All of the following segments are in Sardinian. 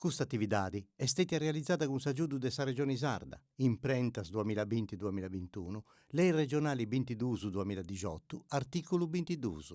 Custa atividadi est stètia realizada cun s'agiudu de sa Regioni Sarda, imprentas duamilla binti duamilla bintunu, Lei Regionali bintiduus duamilla dixotu, artìculu bintiduus.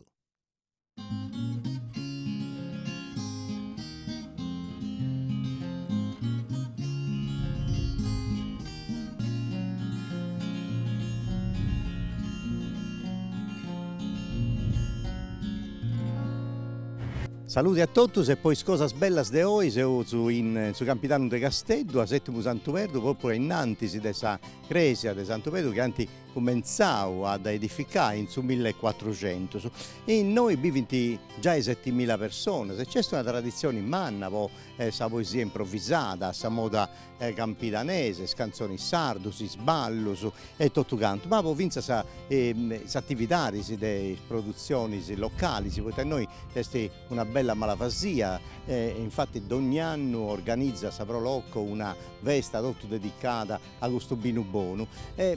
Salude a totus e po is cosas bellas de oi seus in su Campidanu de Casteddu a Setimu Santu Pedru propriu ainnantis de sa cresia de Santu Pedru chi ant cumentzau a dda edificai in su mille e cuatruxentus. Innoi bivint giai setimila personas e nc'est una traditzioni manna po sa poesia improvisada a sa moda campidanesa, is cantzonis sardus, is ballus e totu cantu, ma po fintzas is atividadis de is produtzionis localis, poita innoi nc'est una bella malvasia e infattis dogni annu organizat sa Pro Loco una festa totu dedicada a custu binu bonu,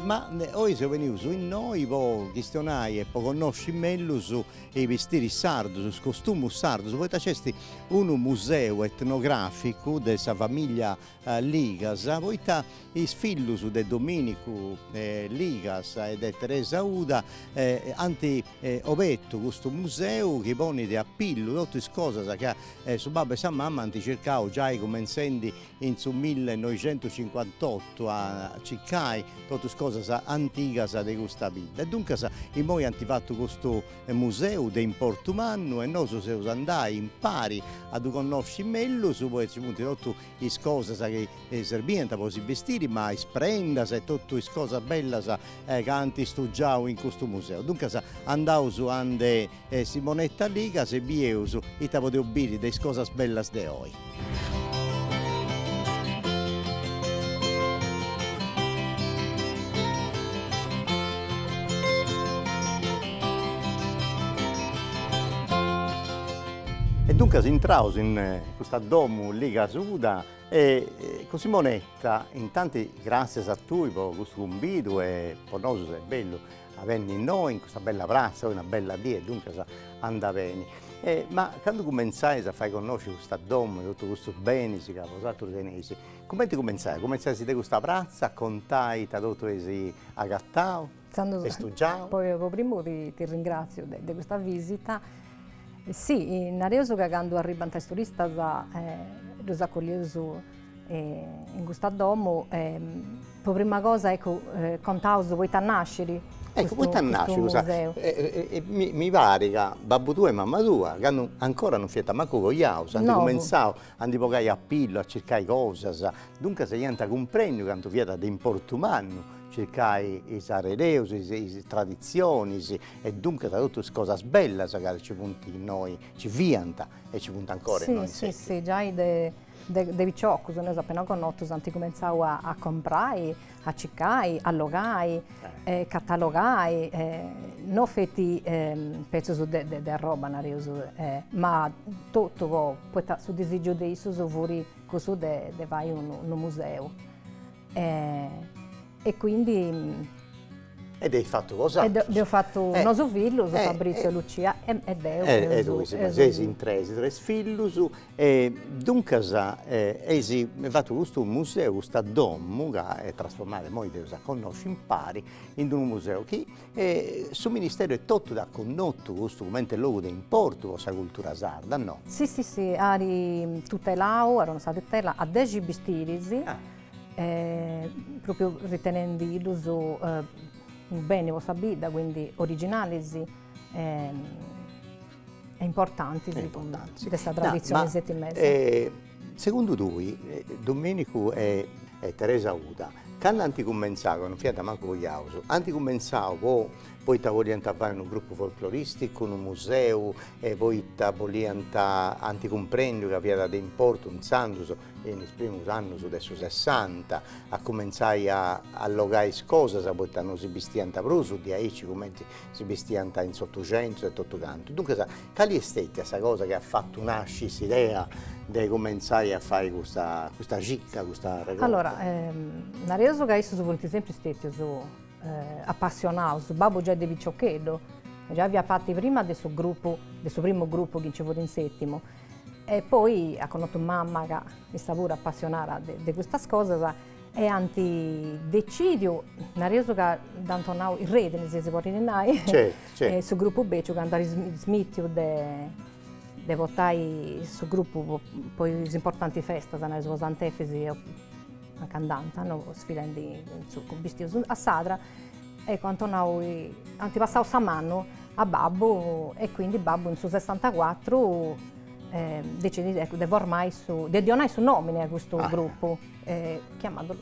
ma oi seus benius innoi po chistionai e po connosci mellus is bistiris sardus, is costumus sardus, poita nc'est unu museu etnograficu de sa famiglia Ligas, poita is fillus de Dominicu Ligas e de Teresa Uda ant obertu custu museu chi ponit a pillu totu is cosas chi su babbu e sa mama ant circau giai cumentzendi in su millenoixentucincuantottu a circai totu is cosas antigas de custa bidda e duncas immoi ant fatu custu museu de importu mannu e nosu eus a andai impari a ddu connosci mellus poita nci funt totu is cosas chi serbiant po si bistiri ma is prendas e totu is cosas bellas ca ant stugiau in custu museu. Duncas andaus a ndi est Simonetta Ligas e bieus ita podeus biri de is cosas bellas de oi. E duncas intraus in custa domu Ligas Uda e cun Simonetta, intanti gràtzias a tui po custu cumbidu e po nosus est bellu A benni innoi in custa bella pratza, oi una bella die, duncas anda beni. E ma candu cumenzais a fai connosci custa domu e totu custus benis ca bosatrus teneis, cumenti cumenzais? Cumenzais de custa pratza a contai ita totu eis agatau e stugiau? Po po primu ti ti ringraziu de de custa visita. Si, nareus ca candu arribant is turistas ddus acollieus In custa domo pro prima cosa ecco contaus poita nascit ecco poita nascit custa mi parit ca babbu tua e mamma tua cando ancora non fiant mancu cojaus ant comintzau a ndi bogai a pillu a circai cosas duncas iant cumprendiu cantu fiat de importu mannu circai is arrereus is traditzionis e duncas totu is cosas bellas ca nci funt innoi nci fiant e nci funt ancora innoi si si si giai de De piciocus, nareus apena connotus ant cumentzau a comprai, a circai, a allogai, catalogai, no feti petzus de arroba nareus, ma totu po, poita su disìgiu de issus fut cussu de fai unu museu E quindi. E dd'eis fatu bosatrus. Dd'eus fatu nosu fillus, Fabrizio e Lucia, e deu. E tui, seis in tres, tres fillus. E duncas eis fatu custu museu, custa domu, ca est trasformada, immoi dd'eus a connosci impari, in d'unu museu chi su Ministero etotu dd'at connotu custu comente logu de importu po sa cultura sarda, no? Si si si, at tutelau, at donau sa tutela a dexi bistiris, E pròpiu ritenendi-ddus unu beni po sa bidda, quindi originalis e importantis de sa traditzioni setimesa. E segundu tui Domenicu e Teresa Uda cando ant cumentzau, ca non fiant mancu cojaus, ant cumentzau po poita boliant fai unu grupu folkloristicu, unu museu e poita boliant, ant cumprendiu ca fiat de importu intzandus in is primus annus de su Sessanta, a cumentzai a allogai is cosas poita non si bistiant prus diaici cumenti si bistiant in s'Otuxentus e totu cantu. Duncas, cali est stètia sa cosa chi at fatu nasci s'idea de cumentzai a fai custa custa cicca, custa regorta? Allora, nareus ca issus funt sempri stètius apassionaus, babbu giai de piciocheddu, giai fiat parti prima de su grupu, de su primu grupu chi nci fut in Sètimu E poi at connotu mama ca issa puru apassionada de custas cosas e ant decidiu, nareus ca dd'ant donau is redini, si si podit nai, su grupu beciu candu at smitiu de portai su grupu po is importanti festas, nareus po Sant'Efis o aca andànt, no sfilendi in su cu, bistius a sa sadra, eccu ant donau, ant passau sa manu a babbu e quindi babbu in su sessantacuatru decidit eccu de formai su de donai su nomini a custu gruppu chiamandulu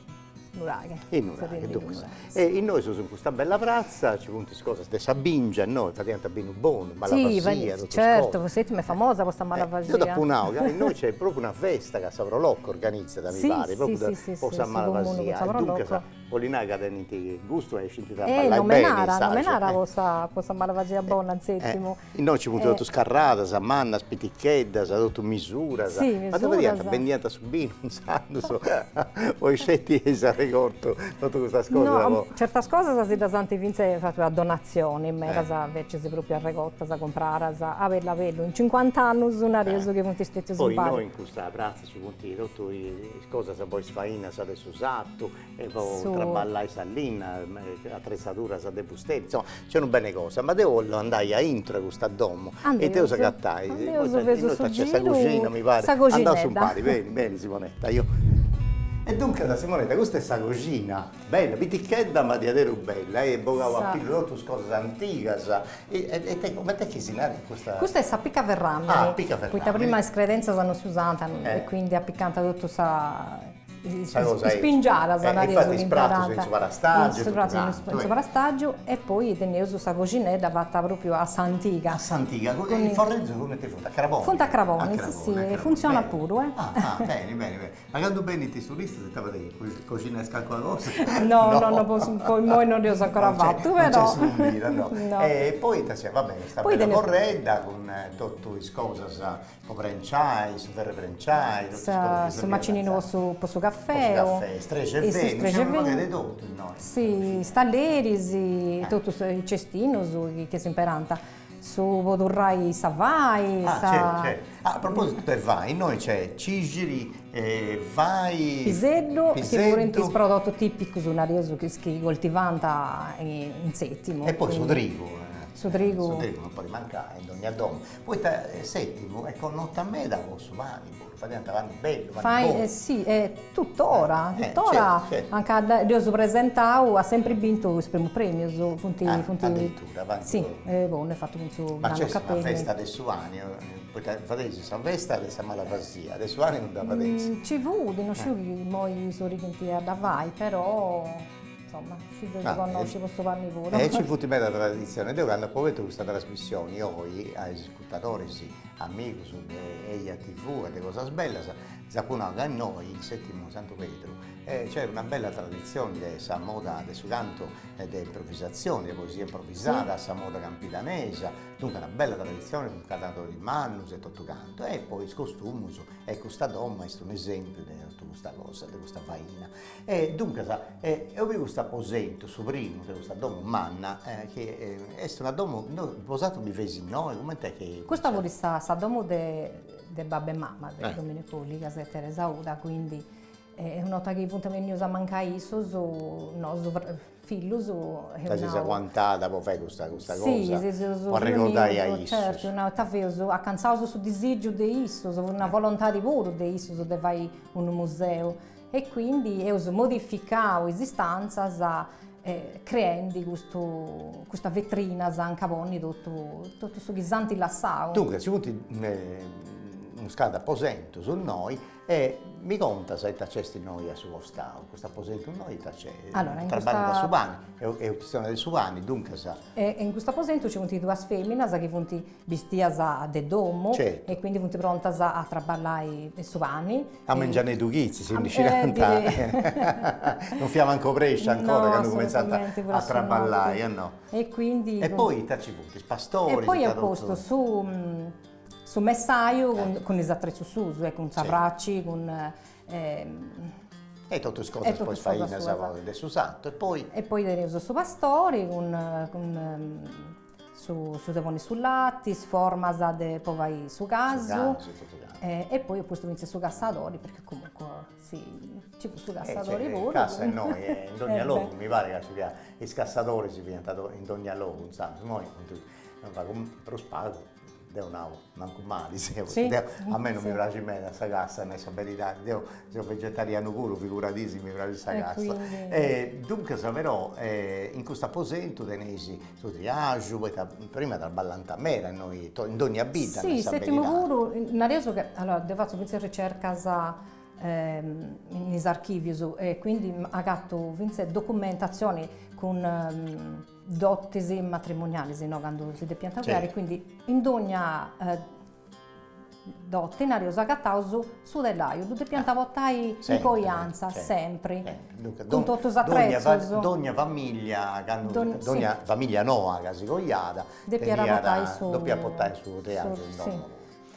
nuraghe e nuraghe duncas e innoi seus in custa bella pratza nci funt is cosas de sa bingia innoi fadiant binu bonu malvaxia totus certu poi settimu est famosa po sa malvaxia deu dd'apu nau ca innoi nc'est propriu una festa ca sa pro loco organizat mi parit propriu po sa malvaxia e duncas 'Ollit nai ca tenint gustu e scint a ballai beni. Nomenada, nomenada po sa po sa malvagia bona in settimu. Innoi nci funt totus carradas, mannas, piticheddas, totu misuras. Si, misuras. Ma ita fadiant, bendiant su binu intzandus o isceti eis arregortu, totu custas cosas? No. Certas cosas si ddas ant fintzas fatu a donatzioni, medas invecias propriu arregortas, cumpradas a bellu a bellu. In cincuant'annus nareus chi funt stetius impari. Poi innoi in custa pratza Ci funt totu is cosas po is fainas de su sartu e po traballai sa linna, atretzaduras de fusteri, insoma, nc'est unu beni 'e cosas, ma deu 'ollu andai a intro 'e custa domu e it'eus a agatai, innoi nc'est sa coxina mi parit, andaus umpari, beni beni Simonetta, e duncas Simonetta custa est sa coxina. Bella, pitichedda ma diaderus bella, eis bogau a pillu totus cosas antigas, e coment'est chi si narat custa? Custa est s'apica ferràmini. Ah, apica ferràmini. Poita prima is credèntzias non si usànt, e quindi apicànt totu sa, is pingiadas nareus. Infati is pratus in su parastàgiu e totu cantu. Is pratus in su parastàgiu, e poi teneus sa coxinedda fata pròpriu a s'antiga. A s'antiga, is forreddus cumenti funt, a craboni? Funt a craboni, si si, e funtzionat puru, eh. Ah ah, beni beni beni. Ma candu benint is turistas ita fadeis, coxinais calcuna cosa? No no no po su po immoi no dd'eus ancora fatu però. No nc'est su bira no. No. E poi ita siat, va bene, sta bella forredda cun totu is cosas po prenciai, su ferru 'e prenciai, totu is cosas chi servint a. Su macininu po su po su cafeu. Po su cafè, is trexevendus, nc'est unu pagheddu 'e totu innoi. Si, is talleris, totus is cestinus chi chi s'imperànt. Su po turrai sa fai sa. Ah certu certu. Ah a propositu de fai innoi nc'est cixiri fai. Piseddu chi furint is prodotus tipicus nareus chi si coltivànt in settimu. E poi su trigu. Su trigu. Su trigu non podit mancai in dogna domu. Poita settimu est connota meda po su pani. Fadiant pani bellu, pani bonu. Si, e tutora, tutora, anca dd'eus presentau at sempri bintu is primus premius, funt funt. Addirittura, pani bonu. Si, bonu, est fatu cun su granu Cappelli. Ma nc'est una festa de su pani, poita fadeis sa festa de sa malvasia, de su pani no dda fadeis? Nci fut, non sciu chi imoi sighint a dda fai, però, insoma, si dd'eus connosciu po su pani puru. E nci funt medas traditzionis, deu candu apu fatu custa trasmissioni oi a is Ispetadores, amigus de eja TV e de cosas bellas s'apu nau ca innoi in Setimu Santu Pedru c'è una bella traditzione de sa moda de su cantu de improvvisatzione, de poesia improvvisada, sa moda campidanesa, duncas una bella traditzione cun cantadoris mannus e totu cantu e poi is costumus e custa domo est un'esempiu de totu custa cosa, de custa faina E duncas eo biu cust'aposentu, su primu de custa domo manna chi est una domo, no bosatrus biveis innoi, coment'est chi. Custa fut sa domo de de babbu e mama de Dominicu Ligas e Teresa Uda, quindi una 'orta chi funt bennius a mancai issus nosu fillus dd'eus aguantada po fai custa custa cosa si si seus po arregordai a issus certu nau ita eus acantzau su disigiu de issus fut una volontadi puru de issus de fai unu museu e quindi eus modificau is istantzas creendi custu custa vetrinas anca ponni totu totu su chi s'anti lassau duncas nci funt unos cantu aposentus innoi E mi contas ita nc'est innoi a su costau, custu aposentu innoi ite acest, Allora in custa, traballant su pani, est est chistione de su pani, duncas. E in custu aposentu nci funt duas feminas chi funt bistias de domu, Certu. e quindi funt prontas a traballai su pani, A mengianeddhu chitzi, si ndi scidant, non fiat mancu obresciu ancora candu cumentzant a traballai, e no. E quindi. E poi ita nci funt, is pastoris, ita totu. E poi apu postu su Su messaju cun is atrezus suus e cun sa fraci, cun E totu is cosas po is fainas suas de su sartu e poi. E poi teneus su pastori cun cun su de ponni su lati, is formas de po fai su casu e poi apu postu fintzas su cassadori perchè comunque si nci fut su cassadori puru. Cassa innoi in dogna logu mi pari ca nci fiat is cassadoris fiant in dogna logu inzandus, imoi funt prus pagus Deu nau, mancu mali, si, deu, a mei non mi praxit meda sa cassa, nai sa beridadi, deu seu vegetarianu puru, figuradì si mi praxit sa cassa, e duncas però in custu aposentu teneis su triaju, poita prima traballant meda innoi, in dogna bidda, nai sa beridadi. Si, Setimu puru, nareus ca, allora, deu fatzu fintzas ricercas in is archivius e quindi agatu fintzas documentatzioni cun dotis matrimonialis, si no candu si depiant coiai, quindi in dogna dote nareus agataus su telaju, ddu depiant portai in coianza sempri, cun totu is atrezus, dogna famiglia dogna famiglia noa ca si coiat depiat portai su telaju in domo,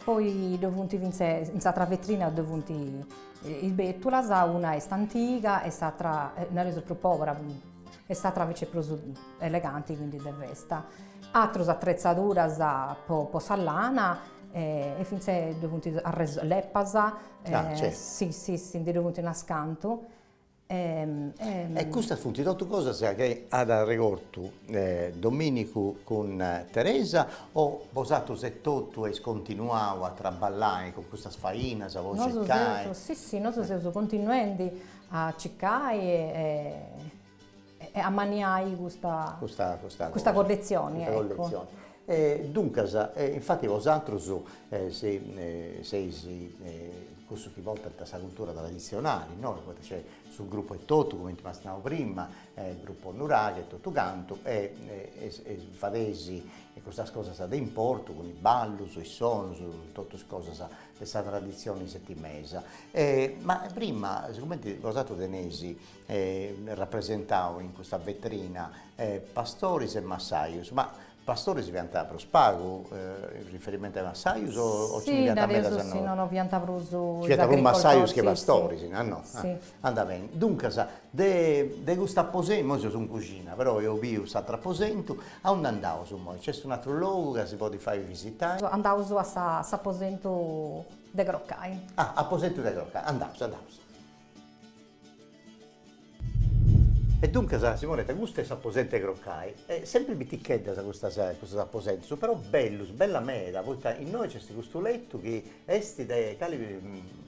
poi ddoe funt fintzes in s'atra vetrina ddoe funt is betulas, una est antiga e s'atra nareus prus pobera e s'atra invece prus eleganti quindi de festa, atrus attrezzaduras po po sa lana e finzas ddoe funt arreso leppas e si si si ndi ddoi funt unas cantu e custas funt totu cosas chi at arregortu Dominicu cun Teresa o bosatrus etotu est continuau a traballai cun custas fainas, a circai? Nosu seus, si si nosu seus continuendi A circai e ammanniai custa custa colletzioni ecco. Duncas infatti bosatrus seis cussus chi portant sa cultura traditzionali innoi, poita nc'est su gruppu etotu cumenti m'as nau prima, gruppu nuraghe e totu cantu e fadeis custas cosas de importu cun is ballus, is sonus, totus cosas de sa traditzione setimesa e ma prima sigumenti bosatrus teneis rapresentau in custa vetrina pastoris e massajus, ma pastoris fiant prus pagu in riferimentu a is massajus o nci fiant medas, si no no fiant prus is agricoltoris, si fiant prus massajus che pastoris, si no no Anda bene, duncas, de de cust'aposentu, imoi seus in cuxina, però eo biu s'atru aposentu, aundi andaus imoi? Nc'est un'atru logu ca si podit fai visitai? Andaus a s'aposentu de crocai. Ah, aposentu de crocai, andaus, andaus. E duncas, Simonetta, custu est s'aposentu 'e crocai, e sempri piticheddas custas custus aposentus, però bellus, bella meda, poita innoi nc'est custu letu chi Est de cali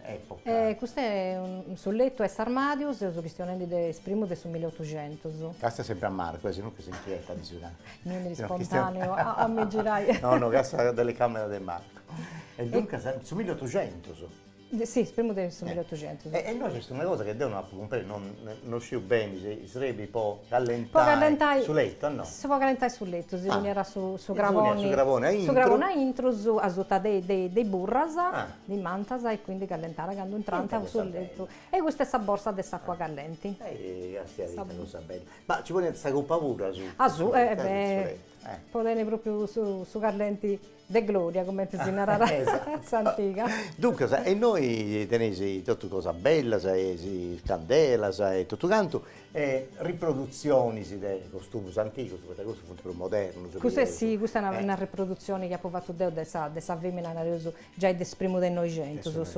epoca? Custu est su letu 'e s'armàdiu, seus chistionendi de is primus de su mileotuxentus. Càstia sempri a Marco, e si no che s'inchietat de su cantu. Mi 'enit ispontàneu a mi girai. No no, càstia telecamera de Marco. E duncas, su mileotuxentus? Si, is primus de su mileotuxentus. E innoi est una cosa chi deu no apu cumpresu, no sciu beni si Srebi po callentai su letu no. Si po callentai su letu si poniat su su craboni su craboni aintru asuta de de de is burras de is mantas e quindi callentàt candu intrànt in su letu e custa est sa borsa de s'acua callenti. Castia ita cosa bella. Ma ci poniant sa copa puru asuta. Asuta e beh Po tenni propriu su callenti de gloria cumenti si narat a s'antiga. Duncas e innoi teneis totu cosas bellas e is candelas e totu cantu e riprodutzionis de costumus antigus poita cussus funt prus modernus. Cussa est si, custa est una riprodutzioni chi apu fatu deu de sa femina, nareus giai de is primus de noixentus.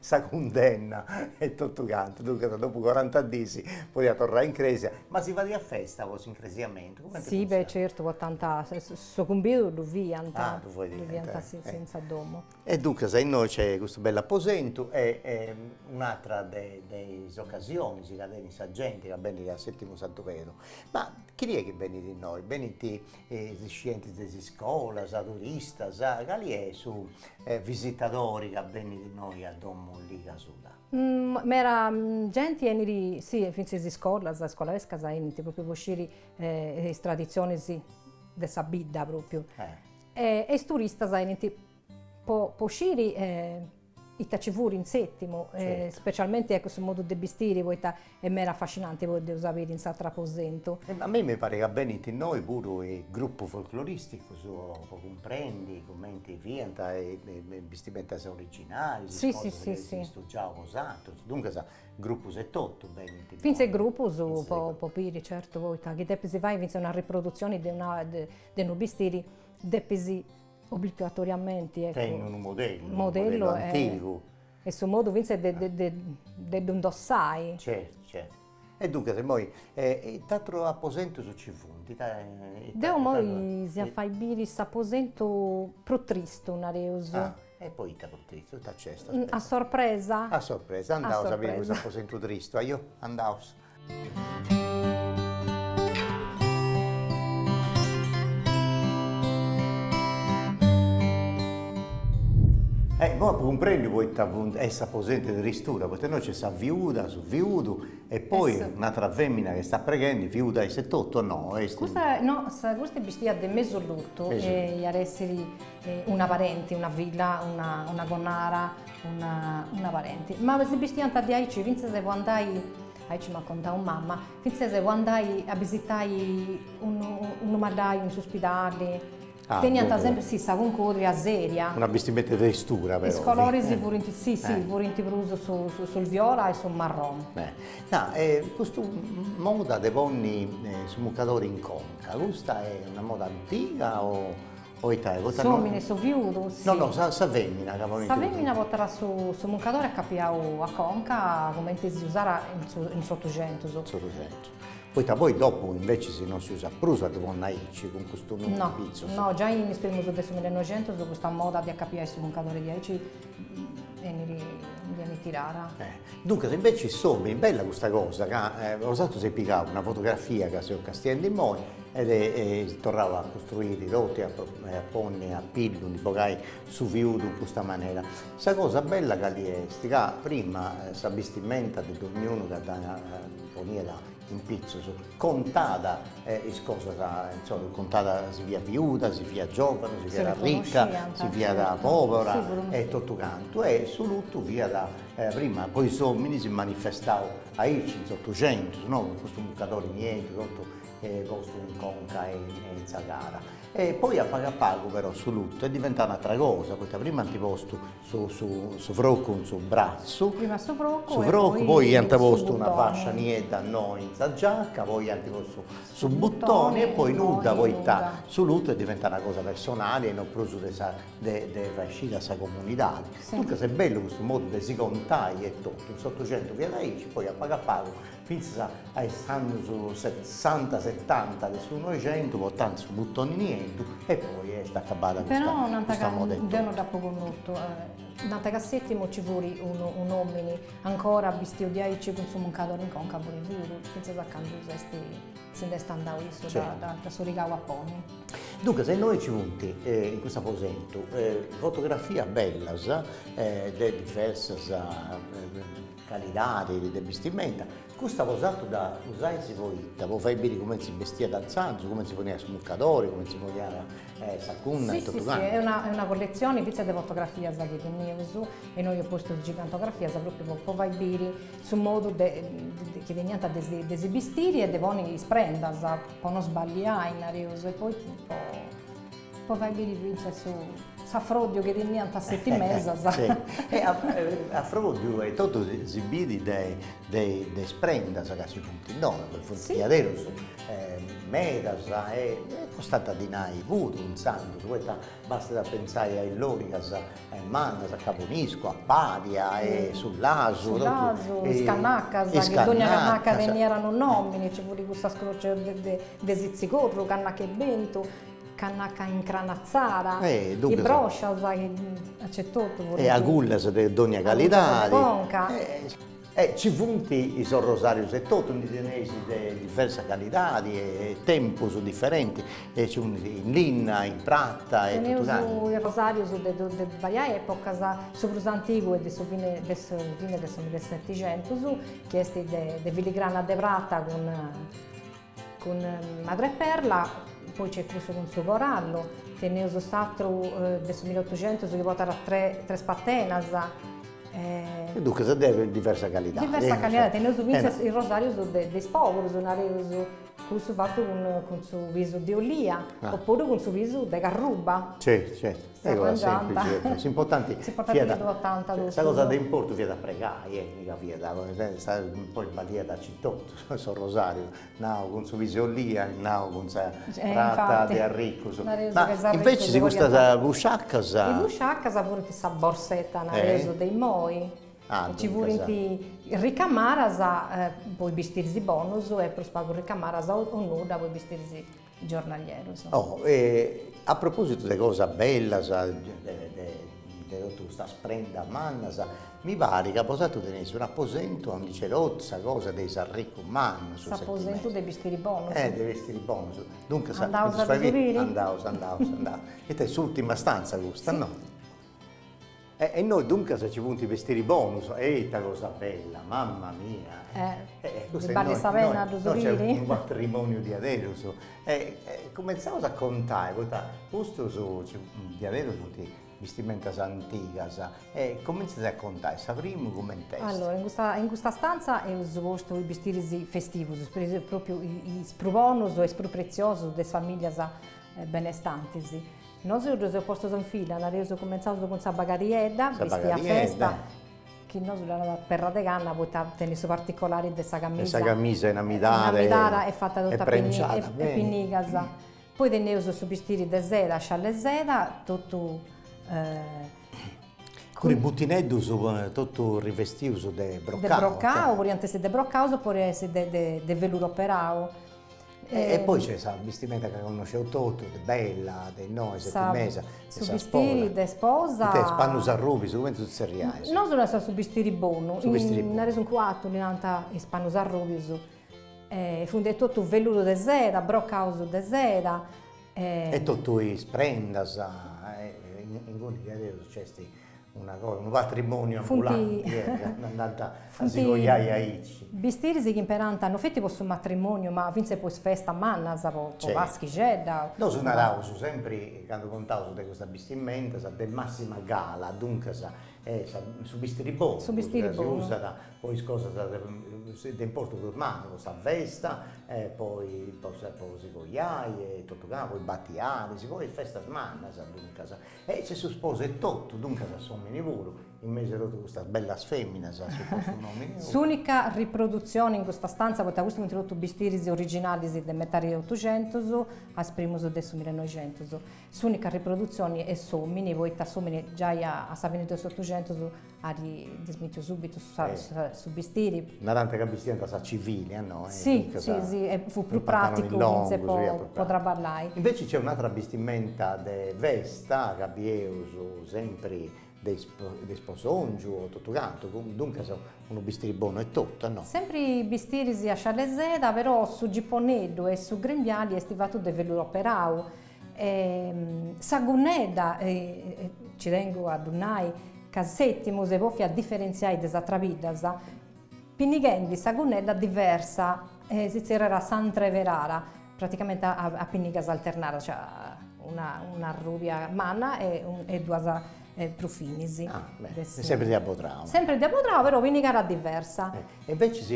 sa cundenna e totu cantu, duncas dopu coranta diis podiat torrai in crèsia, ma si fadiat festa po s'incresiamentu? Si beh certu po tantu, su cumbidu ddu fiant, ddu fiant in sa domo. E duncas innoi nc'est custu bellu aposentu e un'atra de de is ocasionis ca tenint sa genti ca benit a Setimu Santu Pedru, ma chini est chi benit innoi, benint e is iscientis de is iscolas, turistas, cali est su visitadori chi benit innoi a domo Ligas Uda? Mera genti enit, si e fintzas is iscolas, iscolarescas enint propriu po sciri is traditzionis de sa bidda propriu e is turistas enint po sciri Ita ci furit in Sètimu, specialmenti ecco su modu de bistiri, poita est mera afascinanti poi ddu eus a biri in s'ateru aposentu. E a mei mi parit ca benint innoi puru is grupus folcloristicus po cumprendi cumenti fiant is bistimentas originalis, is cosas chi si funt stugiaus po s'aterus, duncas grupus etotu benint innoi. Fintzas is grupus po biri certu, poita chi depis fai fintzas una riprodutzioni de unu bistiri depis Obligatoriamenti ecco. Tenni unu modellu, unu modellu antigu. E su modu finzas de de de ddu indossai. Certu certu. E duncas immoi ita atrus aposentus nci funt, ita Deu immoi si a fai biri s'aposentu prus tristu, nareus. E poita prus tristu, ita nc'est? A sorpresa. A sorpresa, andaus a biri cuss'aposentu tristu, ajò, andaus. Eh, immoi apo cumprendiu poita funt, est s'aposentu de tristura, poita innoi nc'est sa fiuda, su fiudu e poi un'atera femina chi estat preghendi, fiuda est etotu o no? Custa no, custa est bistìa de mesu lutu, iat essiri Una parenti, una filla, una connara, una parenti. Ma si bistiant diaici fintzas po andai, aici m'at contau mama, fintzas po andai a bisitai unu malàiu in s'uspidali. Ah, duncas. Teniant sempri, si, sa cuncurria seria. Una bistimenta de tristura però. Is coloris furint, si, si, furint prus su viola e su marroni. Nau, e custa moda de ponni su mucadori in conca, custa est una moda antiga o Poita poita no. S'omini su fiudu si. No no sa sa femina ca ponit. Sa femina potat su su muncadori acapiau a conca cumenti si usàt in su in s'otuxentus. In s'otuxentus. Poita poi dopu invecis no si usat prus a ddu ponni aici cun custu nuu in pitzus. No no giai in is primus de su millenoxentus custa moda de acapiai su muncadori diaici ndi enit tirada. Duncas invece insomma bella custa cosa ca nosatrus eis pigau una fotografia ca seus castiendi immoi e eis torrau a costruiri totu e a ponni a pillu, ndi bogai su fiudu in custa manera. Sa cosa bella cali est ca prima sa bistimenta de dognunu ca dda poniat in pitzus contat is cosas insomma contat si fiat viuda si fiat giovanu si fiat arricca si fiat pobora e totu cantu e su lutu fiat E prima po is ominis si manifestàt aici in s'Otucentus no, cun custu mucadori nieddu totu postu in conca e in sa cara. E poi a pagu a pagu però su luttu est diventau un'atra cosa, poita prima ant postu su su su frocu in su bratzu, prima su frocu e poi su poi iant postu una fascia niedda innoi in sa giacca, poi iant postu su butoni e poi nudda, poita su luttu est diventau una cosa personali e non prus de sa de de fai sciri a sa comunidade, duncas est bellu custu modu de si contai etotu, in s'Otocentu fiat aici, poi a pagu a pagu fintzas a a is annus sessanta setanta de su Noixentu portant su butoni nieddu e poi est acabada custa custa moda. Però deu non dd'apo connotu, nant ca a Sètimu nci fut unu un'omini ancora bistiu diaici cun su muncadori in conca furu furu fintzas a candu s'est si nd'est andau issu dd'at sighiu a ponni Duncas innoi nci funt, in custu aposentu, fotografias bellas de diversas calidades de bistimenta, custa custas dd'usais poita po fai biri cumenti bestiant intzandus, cumenti si poniat su mucadori, cumenti si poniat sa gunna e totu cantu. Est una est una colletzioni fintzas de fotografias chi teneus e innoi eus postu is gigantografias propriu po po fai biri su modu de chi teniant de si de si bistiri e de ponni is prendas Po no sballiai, nareus, e poi po fai biri fintzas su s'afròdiu chi teniant is setimesas. E afròdiu e totu si biri de is prendas ca si funt innoi, ca funt diaderus medas e costànt dinai puru intzandus, poita bastat a pentzai a is lòrigas mannas, a caboniscu, a pàlia e su lasu. Su Lasu, is Cannacas, chi dogna Cannaca teniat unu nomini, nci fut cussas crocas de Sitzigorru, Cannaca 'e bentu, Cannaca incranatzada, is broscias chi nc'est totu. E agullas de dogna calidadi. E ci funt is orrosarius e totu, ndi teneis de diversa calidadi e tempus diferenti, e ci funt in linna, in prata e totu cantu. Teneus is rosarius de de varias epocas, su prus antigu est de su fine de su fine de su millesetixentus, chi est de filigrana de prata cun Cun Madreperla, poi nc'est cussu cun su corallu, teneus s'atru de su milli otuxentus chi portat tres patenas. E duncas de diversa calidadi. Diversa calidadi, teneus fintzas is rosarius de is poburus, nareus, cussu fatu cun su pisu de olia, opuru cun su pisu de carruba. Certu, certu. S'arrangiant. S'importanti fiat. S'importanti chi ddu portànt totus. Sa cosa de importu fiat a pregai, e mi ca fiat, poi balliat aici totu. Su rosariu, o cun su pisu 'e olia, o cun sa prata de is arricus. Ma invece custas busciaccas. Is busciaccas furint sa borsetta nareus de immoi. Ah duncas. Ci furint ricamaras po is bistiris bonus e prus pagu ricamaras o nudda po is bistiris giornalieros. Oh e a propositu de cosas bellas de totu custas prendas mannas, mi parit ca bosatrus teneis un aposentu aundi nc'est totu sa cosa de is arricus mannus, s'aposentu de bistiri bonus, eh de is bistiris bonus, duncas andaus a ddu biri, andaus andaus andaus, ita est s'urtima stanza custa no? E innoi duncas nci funt is bestiris bonus, e ita cosa bella, mamma mia! Ddi ballit sa pena a ddu biri? Innoi nc'est unu patrimoniu diaderus, e cumentzaus a contai, poita custus diaderus funt bistimentas antigas, e cumintzas a contai, sa primu cument'est? Allora, in custa in custa stanza eus postu is bistiris festivus, propriu is prus bonus e is prus pretziosus de is familias e benestantis. Nosu ddus eus postus in filla, nareus cumintzaus cun sa bagariedda, bistia a festa, chi nosu ddu naràus perra de canna poita tenit su particolari de sa camisa, de sa camisa inamidada, inamidada e fata totu a pinnigas, poi teneus su bistiri de seda, sciallu de seda, totu cun is butineddus totu rivestius de brocau, de brocau, podiant essi de brocau o podiant essi de de veluru operau E poi c'è sa bistimenta ca connosceus totus, de bella, de innoi, sa de mesu, de sa sposa. Su bistiri de sposa. Ite est, pannus arrubius, cumenti ddu tzerriais? Nosu naraius su bistiri bonu. Su bistiri bonu. Nareus in Cuartu, ddi narant is pannus arrubius. Funt de totu velludu de seda, brocaus de seda. E totu is prendas, inguni nc'est una cosa unu patrimoniu ambulanti e cando andànt a si coiai aici. Bistiris chi imperànt no feti po su matrimoniu ma fintzes po is festas mannas po paschixedda. Nosu naraus sempri candu contaus de custas bistimentas de massima gala duncas su bistiri bonu su bistiri bonu ca si usàt po is cosas de importu prus mannu po sa festa e po po si coiai e totu cantu po is batiaris po is festas mannas duncas E si su sposu etotu, duncas a s'omini puru, in mesu 'e totu custas bellas feminas as postu un'omini puru. S'unica riproduzioni in custa stanza, poita custus funt totu bistiris originalis de metadi de otuxentus a is primus de su millenoixentus, s'unica riproduzioni est s'omini, poita s'omini giai a sa fini de s'otuxentus At dismitiu subitu su bistiri. Narant ca bistiant a sa civili, no. Si, si, si, e fut prus praticu fintzas po traballai. Inveci nc'est un'atra bistimenta de festa ca bieus sempri de de isposongiu o totu cantu, duncas unu bistiri bonu etotu, no. Sempri bistiris a scialle 'e seda, però su giponeddu e su grembiali est fatu de velluru operau, E sa gunnedda, ci tengu a ddu nai, ca Sètimu s'est bòfia diferentziai de is atras biddas, pinnighendi sa gunnedda diversa, si zerriat s'antreverara, praticamenti a pinnigas alternadas, cioè una arrùbia manna e duas prus finis. Ah, beh, e sempre de abodrau. Sempre de abodrau, però pinnigara diversa. E invecias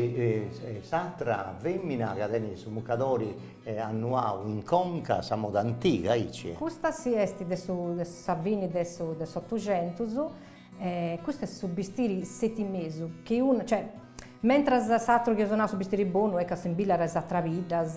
s'atra femina ca tenit su mucadori annuau in conca, a sa moda antiga, aici? Custa si, est de su de sa fini de su de s'otuxentus, e custu est su bistiri setimesu, chi unu, cioè, mentras s'atru chi eus nau su bistiri bonu est ca assimbillat is atras biddas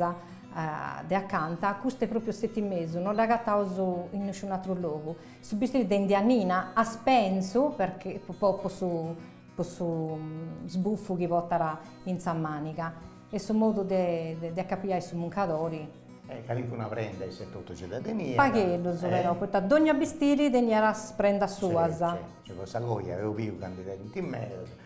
de acanta, custu est pròpriu setimesu, no dd'agataus in nisciun'atru logu Su bistiri de indianina, a spensu, perche po po su po su sbuffu chi potat in sa màniga e su modu de de acapiai su muncadori. E calincuna prenda isse totu nci dda teniat. Pagheddus però, poita dònnia bistiri teniat is prendas suas. Gei po sa coja eus biu ca ndi tenint medas.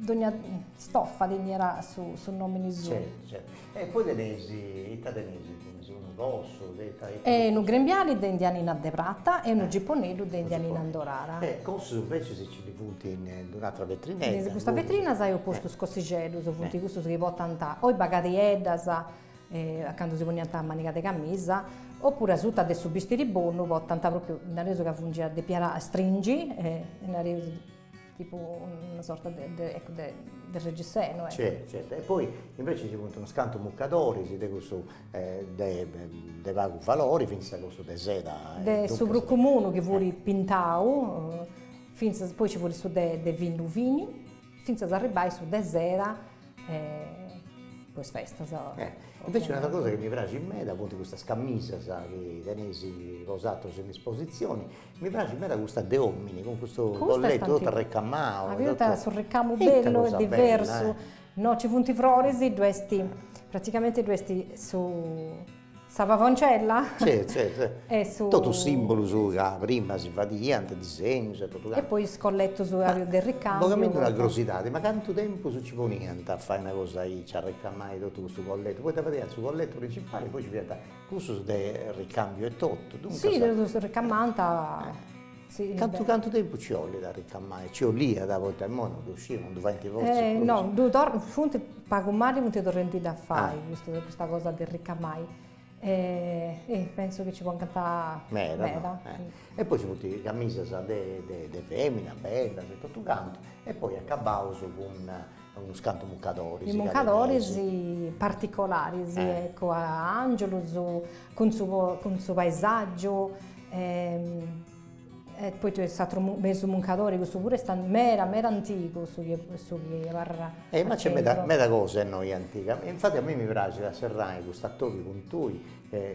Dogna stofa teniat su nomini suu. Certu, certu. E poi teneis, ita teneis in prus, unu cossu de ita? E unu grembiali de indianina de prata e unu giponeddu de indianina indorada. E cossus invecias si ndi funt in un'atera vetrinedda. In custa vetrina eus postu is cossixeddus, funt cussus chi portant o is bagadieddas, candu si poniant a maniga de camisa, opuru asuta de su bistiri bonu portant propriu, nareus ca fungiat depiat stringi, nareus Tipu una sorta de de eccu de de reggisenu eccu. Certu certu, e poi invece ci funt unus cantu muccadoris de cussu de de pagu valori, finzas cussu de seda e duncas. De su prus comunu chi fut pintau, finzas, poi ci fut su de de fini fini, finzas a arribbai su de seda po is festas. Invece un'atera cosa chi mi praxit meda funt custas cammisas chi teneis bosatrus in isposizioni Mi praxit meda custa de omini cun custu collettu totu arrecamau. Aviat su ricamu bellu e diversu, no ci funt froris, ddu est, praticamenti ddu est su sa pavoncella e su. Totu simbolus ca prima si fadiant, disegnus e totu cantu. E poi is collettus de ricambiu. Veramenti una crosidadi, ma cantu tempus nci poniant a fai una cosa aici, arrecamai totu custu collettu, poita fadiant su collettu principali e poi nci fiant Cussus de ricambiu etotu, duncas. Si, ddos ricamànt. Cantu cantu tempus ci 'olit a ricamai? Ci 'oliat, poita imoi non ddu sciu, non ddu faint fortzis prus. No, ddu funt, pagu mali funt torrendidda a fai, custa cosa de ricamai. Pentzu chi ci poncant meda. Meda. E poi nci funt is camisas de femina, bellas e totu cantu, e poi acabaus cun Unus cantu muncadoris. I muncadoris particolaris, ecco, a Angiulus cun su cun su paesaggiu e e poi ddu est s'atru mesu muncadori, cussu puru est meda meda antigu su chi su chi abarrat. Ma ci est meda meda cosa innoi antiga. E infati a mei mi praxit a serrai cust'atobiu cun tui,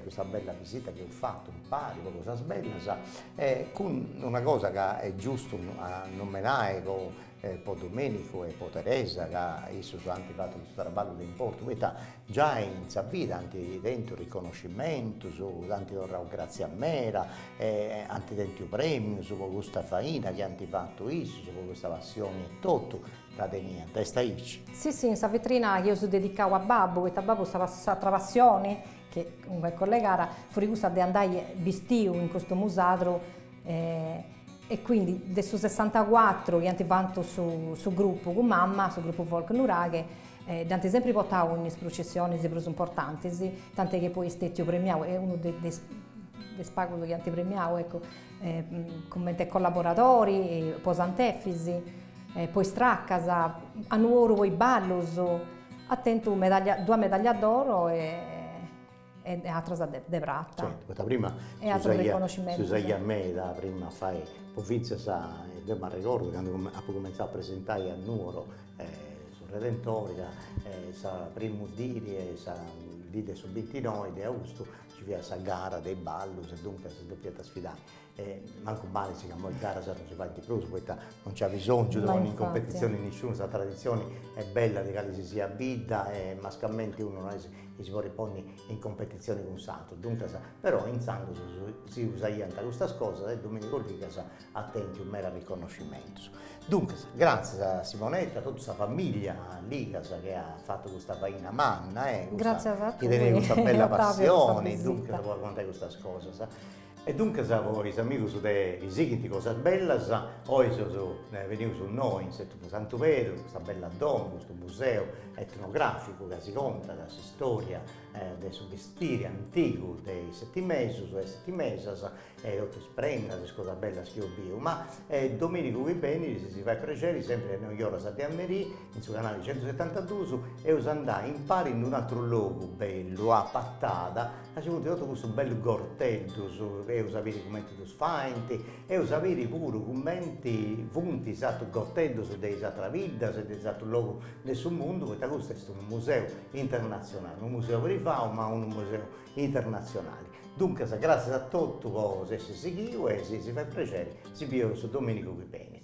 custa bella visita chi eus fatu impari po cosas bellas e cun una cosa ca est giustu a nomenai po e po Domenicu e po Teresa ca issus ant fatu custu traballu de importu poita giai in sa vida ant tentu riconoscimentus, ant torrau gràtzias meda e ant tentu prèmius po custa faina chi ant fatu issus, po custa passioni etotu ca teniant, est aici. Sì sì in sa vitrina chi eus dedicau a babbu, poita babbu sa s'atra passioni, chi cumenti collegada, fut cussa de andai bistiu in costumu sadru E quindi de su sessantacuatru chi ant fatu su grupu cun mama, su grupu folk Nuraghe, dd'ant sempri portau in is prucessionis prus importantis, tant'è chi poi est stetiu premiau, est unu de is de is pagus chi ant premiau, eccu, cumenti collaboradori, po Sant'Efis, po is tracas, a Nuoro po is ballus, at tentu duas medallas d'oro e E atras de prata. Poita prima si usaiat meda prima a fai pofintzas, deu m'arregordu candu apu cumenzau a presentai a Nuoro su Redentori ca sa primu dì de sa dì de su bintinoi de austu nci fiat sa gara de is ballus e duncas si depiant sfidai E mancu malis ca imoi garas non si faint prus poita non nci at bisòngiu de ponni in competitzioni nisciunu, sa traditzioni est bella de cale si siat bidda e mascamente unu no est chi si podit ponni in competitzioni cun s'atru, duncas, però intzandus si usaiant custas cosas e Domenico Ligas at tentu medas riconnoscimentus. Duncas, gratzias a Simonetta, a totu sa familia Ligas chi at fatu custa faina manna e chi tenet custa bella passioni duncas po contai custas cosas E duncas po is amigus de Chi sighint cosas bellas, oi seus benidos innoi in s'Etu de Santu Pedru, custa bella domu, custu museu etnograficu ca si contat s'istória de su bestiri antigu de is setimesus e is setimesas e totu is prendas e is cosas bellas chi eus biu, ma dominigu chi benit si si fait prexeri sempri a is noi oras de a merì in su canali centusetantaduus eus andai impari in d'un'atru logu bellu a Pattada Aca funti totu custus bellus gorteddus, eus a biri cumenti ddus faint, eus a biri puru cumenti funt is atrus gorteddus de is atras biddas e de is atrus logus de su mundu, poita custu est unu museu internatzionali, unu museu privau ma unu museu internatzionali. Duncas, gratzias a totu po s'essi sighiu e si si fait prexeri si bieus dominigu chi benit.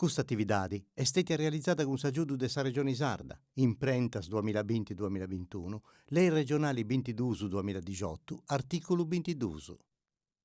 Custa atividadi est stètia realizada cun s'agiudu de sa Regioni Sarda, Imprentas duamilla binti duamilla bintunu, Lei Regionali bintiduus duamilla dixotu, artìculu bintiduus.